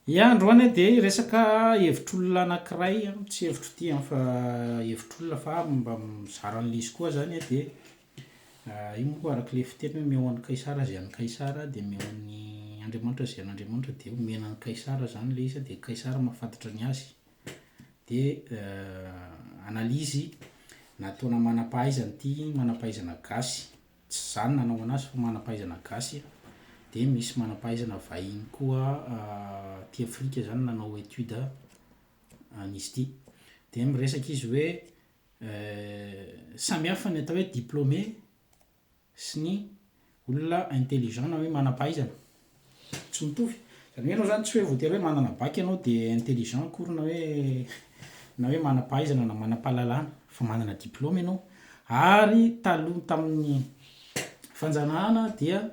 Ia androany a dia resaka hevitr'olona anakiray a, tsy hevitro ty an fa hevitr'olona fa mba mizara an'le izy koa zany a dia io moa koa arak'le fiteny hoe omeo an'i kaisara ze an'i kaisara dia omeo an'i andriamanitra ze an'andriamanitra dia omena an'i kaisara zany le izy a dia kaisara mahafantatra ny azy dia analyse nataona manam-pahaizana ty manam-pahaizana gasy Tsy zany nanaovana azy fa manampahaizana gasy a! Dia misy manampahaizana vahiny koa aty afrika zany nanao étude an'izy ity. Dia miresaka izy hoe samihafa ny atao hoe diplômé sy ny olona intelligent na hoe manampahaizana. tsy mitovy. Izany hoe ianao izany tsy hoe voatery hoe manana bac ianao dia intelligent akory na hoe na hoe manam-pahaizana na manam-pahalalana fa manana diploma ianao. Ary taloha tamin'ny fanjanahana dia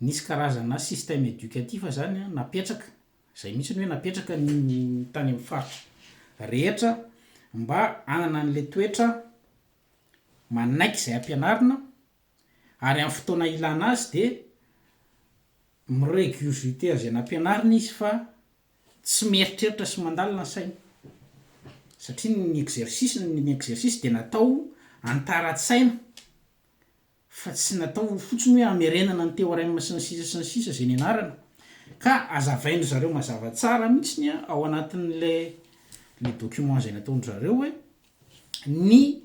nisy karazana système éducatif izany napetraka, izay mihitsy ny hoe napetraka ny tany amin'ny faritra rehetra mba hanana an'ilay toetra manaiky izay hampianarina ary amin'ny fotoana ilana azy dia mi-regurgiter izay nampianarina izy fa tsy mieritreritra sy mandalina ny sainy satria ny exercice ny exercice dia natao hanitaran-tsaina fa tsy natao fotsiny hoe hamerenana ny théorème sy ny sisa sy ny sisa izay nianarana ka azavain-dry zareo mazava tsara mihitsiny ao anatin'ilay le document izay nataon-dry zareo hoe ny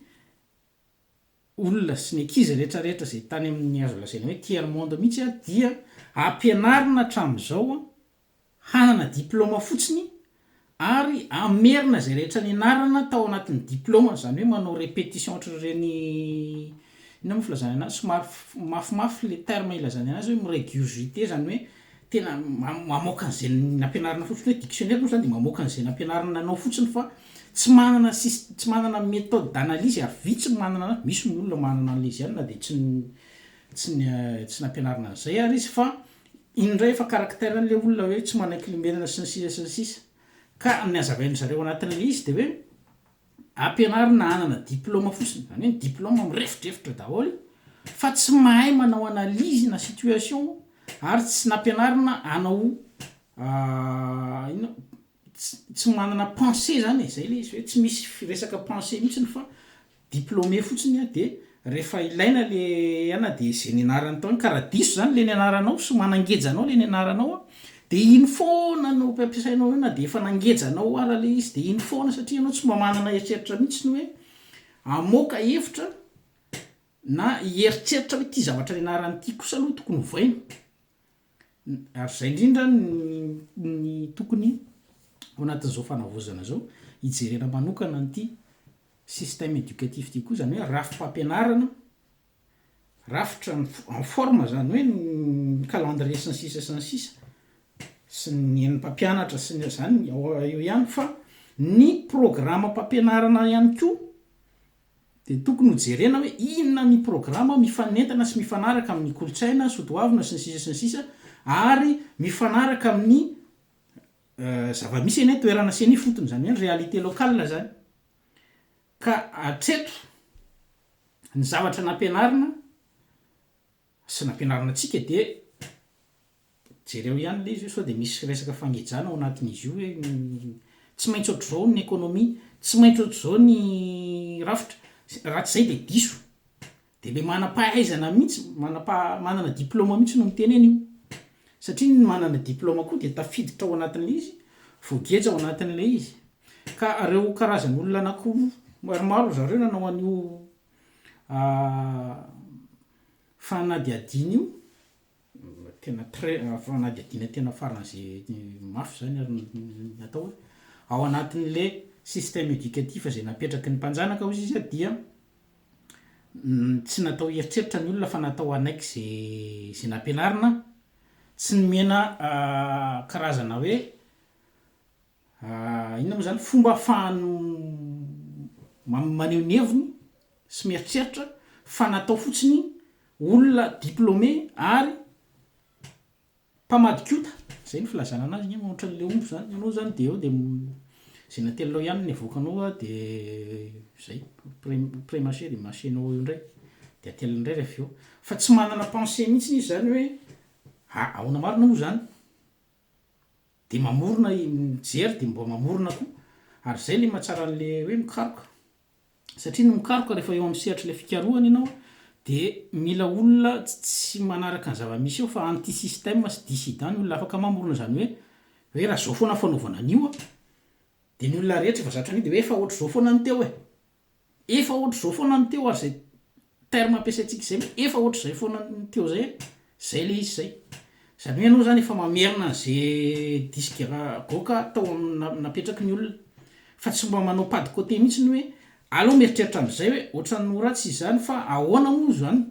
olona sy ny ankizy rehetra rehetra izay tany amin'ny azo lazaina hoe tiers monde mihitsy dia ampianarina hatramin'izao hanana diplaoma fotsiny ary hamerina izay rehetra nianarana tao anatin'ny diplaoma izany hoe manao répétition ohatr'ireny inona moa filazana anazy somary mafimafy le terme ilazana anazy hoe mi-regurgiter izany hoe tena mamoaka an'izay nampianarina fotsiny hoe dictionnaire moa zany dia mamoaka an'izay nampianarina anao fotsiny fa tsy manana sys- tsy manana méthode d'analyse ary vitsy ny manana an'azy, misy ny olona manana an'ilay izy ihany na dia tsy ny tsy ny tsy nampianarina an'izay ary izy fa iny indray efa caractère an'ilay olona hoe tsy manaiky lembenana sy ny sisa sy ny sisa ka ny hazavain'izareo anatin'ilay izy dia hoe Ampianarina hanana diploma fotsiny, izany hoe ny diploma mirefodrefotra daholo, fa tsy mahay manao analyse na situation ary tsy nampianarina hanao inona tsy manana pensée izany e, izay ilay izy hoe tsy misy resaka pensée mihitsiny fa diplômé fotsiny dia Rehefa ilaina le ana de ze nianarany tao iny ka raha diso zany le nianaranao sy manangeja anao le nianaranao a de iny foana no ampiampiasainao eo na de efa nangeja anao ara le izy de iny foana satria ianao tsy mba manana eritreritra mihitsy ny hoe hamoaka hevitra na hieritreritra hoe ty zavatra nianarany ty kosa aloha tokony ovaina. ary zay indrindra ny ny tokony ao anatin'izao fanavaozana izao hijerena manokana an'ity système éducatif ity koa, zany hoe rafi-pampianarana, rafitra ny fo- en forme zany hoe ny calendrier sy ny sisa sy ny sisa sy ny an'ny mpampianatra sy ny zany ao eo ihany fa ny programme-pampianarana ihany koa dia tokony ho jerena hoe inona ny programa mifanentana sy mifanaraka amin'ny kolontsaina soatoavina sy ny sisa sy ny sisa ary mifanaraka amin'ny zava-misy eny an-toerana sy eny ifotony, izany hoe ny réalité locale izany. Ka hatreto ny zavatra nampianarina, sy nampianarina antsika dia jereo ihany ilay izy hoe sao dia misy resaka fangejana ao anatin'izy io hoe tsy maintsy ohatr'izao ny économie, tsy maintsy ohatr'izao ny rafitra, raha tsy izay dia diso. Dia ilay manam-pahaizana mihitsy, manam-paha- manana diplaoma mihitsy no miteny an'io. Satria ny manana diplaoma koa dia tafiditra ao anatin'ilay izy, voageja ao anatin'ilay izy. Ka ireo karazan'olona anankiroa, maromaro ry zareo nanao an'io Fanadihadiana io, tena très, fanadihadiana tena faran'izay mafy izany ary ny atao hoe, ao anatin'ilay système éducatif izay napetraky ny mpanjanaka hozy izy dia tsy natao hieritreritra ny olona fa natao hanaiky izay izay nampianarina, tsy nomena karazana hoe, Inona moa izany fomba ahafahany maneho ny heviny sy mieritreritra fa natao fotsiny olona diplômé ary mpamadikota, izay no filazana anazy anie moa ohatran'ny le omby izany, ianao izany dia eo dia izay natelinao ihany no avoakanao a dia izay pré mâché dia mâchénao eo indray dia ateliny indray avy eo, fa tsy manana pensée mihintsy izy izany hoe ahoana marina moa izany. de mamorona i mijery de mba mamorona koa ary zay le mahatsara an'le hoe mikaroka satria ny mikaroka rehefa eo amin'ny sehatr'ilay fikarohana ianao a de mila olona tsy manaraka ny zava-misy eo fa anti système sy dissident ny olona afaka mamorona zany hoe hoe raha zao foana fanaovana an'io a de ny olona rehetra efa zatra an'io de hoe efa ohatr'izao foana ny teo e. Efa ohatr'izao foana ny teo ary izay terme ampiasaintsika izay hoe efa ohatr'izay foana ny teo izay, izay ilay izy izay. Izany hoe ianao izany efa mamerina an'izay disque ra goaka tao amin'ny napetraky ny olona. Fa tsy mba manao pas de côté mihitsy ny hoe aleo mieritreritra an'izay hoe ohatran'ny ho ratsy izany fa ahoana moa izany?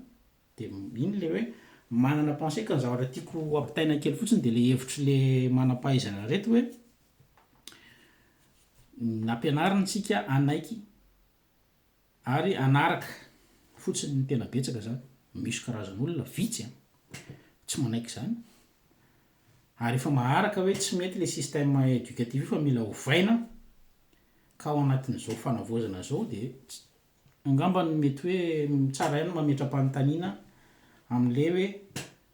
Dia iny ilay hoe manana pensée ka ny zavatra tiako hampitaina kely fotsiny dia ilay hevitr'ilay manam-pahaizana ireto hoe, Nampianariny tsika hanaiky ary hanaraka fotsiny ny tena betsaka zany, misy karazana olona vitsy an, tsy manaiky zany, ary efa maharaka hoe tsy mety le système éducatif io fa mila ovaina, ka ao anatin'izao fanavaozana zao de Angamba ny mety hoe tsara ihany ny mametra-panontaniana amin'ilay hoe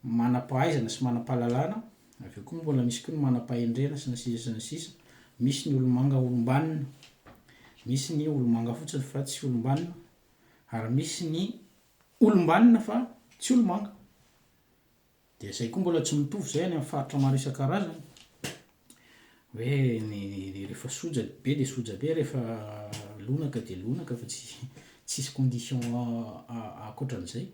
manam-pahaizana sy manam-pahalalana, avy eo koa mbola misy koa ny manam-pahendrena sy ny sisa sy ny sisa. Misy ny olomanga olom-banona, misy ny olomanga fotsiny fa tsy olom-banona ary misy ny olom-banona fa tsy olomanga. Dia izay koa mbola tsy mitovy izay any amin'ny faritra maro isan-karazany, hoe ny rehefa soja be dia soja be, rehefa lonaka dia lonaka fa tsy tsisy condition ankoatran'izay.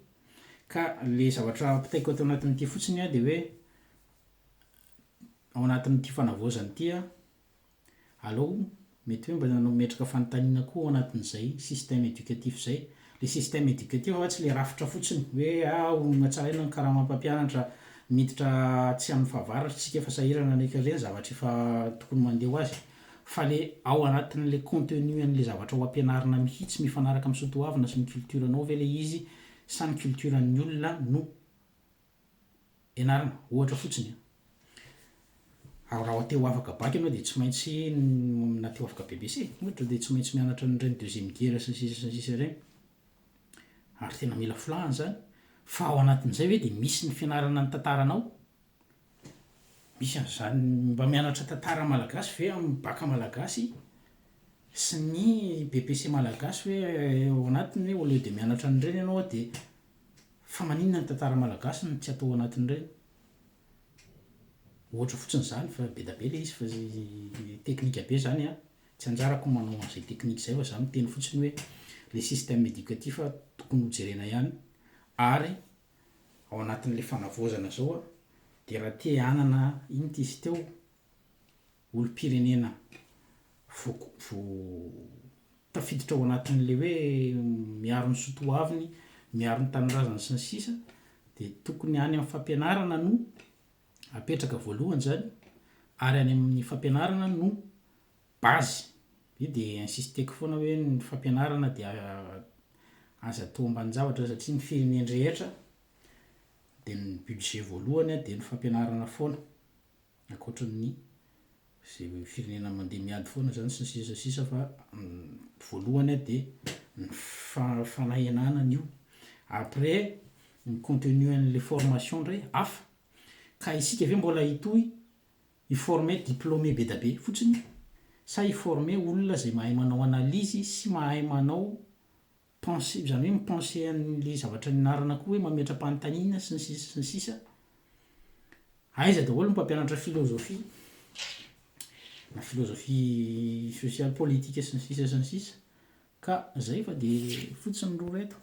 Ka ilay zavatra ampitaiko ato anatin'ity fotsiny an dia hoe, ao anatin'ity fanavaozana ity an, Alou, mety hoe mba nanao metroka fanontaniana koa ao anatin'izay système éducatif izay. Ilay système éducatif anga tsy ilay rafitra fotsiny hoe ah honatsaraina ny karamam mpampianatra miditra atsy amin'ny fahavaratra isika fa sahirana ny ankizy ireny zavatra efa tokony mandeha ho azy fa ilay ao anatin'ilay contenu an'ilay zavatra ho ampianarina mihitsy mifanaraka amin'ny soatoavina sy ny culture-nao ve ilay izy sa ny culture-n'ny olona no ianarana, ohatra fotsiny an. Ary raha te ho afaka bac ianao dia tsy maintsy, na te ho afaka BEPC ohatra, dia tsy maintsy mianatra an'ireny deuxième gera sy ny sisa sy ny sisa ireny. Ary tena mila filàhana izany. Fa ao anatin'izay ve dia misy ny fianarana ny tantaranao? Misy an'izany, mba mianatra tantara malagasy ve amin'ny bac malagasy sy ny BEPC malagasy hoe ao anatiny hoe au lieu dia mianatra an'ireny ianao dia Fa maninona ny tantara malagasy no tsy atao ao anatin'ireny? Ohatra fotsiny izany fa be da be ilay izy fa teknika be izany an! Tsy anjarako ny manao an'izay teknika izay fa za miteny fotsiny hoe ilay système éducatif tokony ho jerena ihany ary ao anatin'ilay fanavaozana izao dia raha te hanana inona ity izy teo? olom-pirenena vo tafiditra ao anatin'ilay hoe miaro ny soa toaviny, miaro ny tanindrazany sy ny sisa dia tokony any amin'ny fampianarana no apetraka voalohany izany ary any amin'ny fampianarana no base. Io dia insisteko foana hoe ny fampianarana dia aza atao ambanin-javatra satria ny firenen-drehetra dia ny budget voalohany dia ny fampianarana foana. ankoatry ny izay firenena mandeha miady foana izany sy ny sisa sy ny sisa fa voalohany a dia ny fanahenana an'io après ny contenu an'ilay formation indray hafa ka isika ve mbola hitohy hi-former diplômé be dia be fotsiny sa hi-former olona izay mahay manao analyse sy mahay manao Pense, izany hoe mi-penser an'ilay zavatra nianarana koa hoe mametra-panontaniana sy ny sisa sy ny sisa. Aiza daholo ny mpampianatra filozofia, na filozofia sosialy, politika sy ny sisa sy ny sisa. Ka izay fa dia fotsiny ny roa ireto.